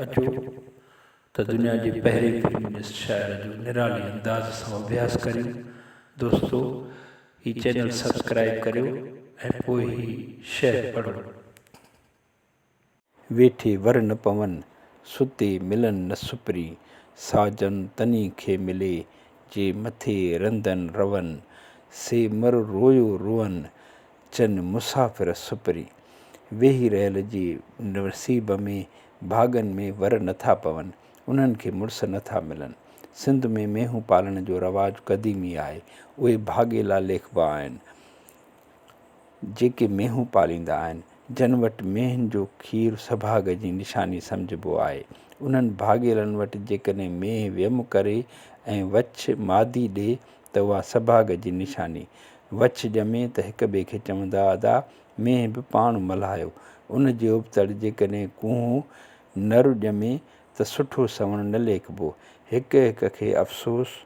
اچو ته دنيا جي پهرين فيمنسٽ شاعره جو نرالي انداز سان اڀياس ڪريون دوستو هي چينل سبسڪرائيب ڪريو ۽ پوء هي شعر پڙهو ويٺي ور نه پون، ستي ملن نه سپري. ساجن تني کي ملي، جي مٿي رندن رون. سي مر رويو روئن، چن مسافر سپري. ويهي رهيل جي نصيب ۾، ڀاڳن ۾، ور نه ٿا پون، انهن کي مڙس نه ٿا ملن. سنڌ ۾ مينهون پالڻ جو رواج قديمي آهي. اهي ڀاڳيلا ليکبا آهن. جيڪي مينهون پاليندا آهن، جن وٽ مينهن جو کير سڀاڳ جي نشاني سمجهبو آهي. انهن ڀاڳيلن وٽ جيڪڏهن مينهن ويم ڪري ۽ وڇ مادي ڏئي ته اها سڀاڳ جي نشاني. وڇ ڄمي ته هڪ ٻئي کي چوندا ادا مينهن به پاڻ ملهايو. ان جي ابتڙ جيڪڏهن ڪونهو نر ڄمي ته سٺو سوڻ نه ليکبو. هڪ هڪ کي افسوس.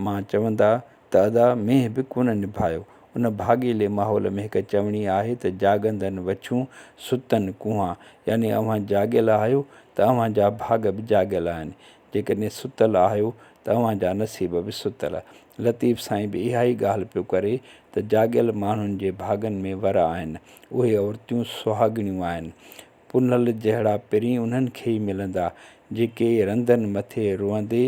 مان چوندا ته ادا مينهن به ڪونه نڀايو. ان ڀاڳيلي ماحول ۾ هڪ چوڻي آهي ته جاڳندن وڇون، ستن ڪوهان. يعني اوهان جاڳيل آهيو ته اوهان جا ڀاڳ به جاڳيل آهن. جيڪڏهن ستل آهيو ته اوهان جا نصيب به ستل. لطيف سائين به اها ئي ڳالهه پيو ڪري ته جاڳيل ماڻهن جي ڀاڳن ۾ ور آهن. اهي عورتيون سهاڳڻيون آهن. پنهل جهڙا پرين انهن کي ئي ملندا، جيڪي رندن مٿي روئندي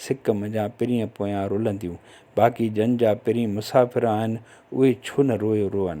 سڪ منجهان پرين پويان رلنديون. باقي جن جا پرين مسافر آهن، اهي ڇو نه روئي روئن.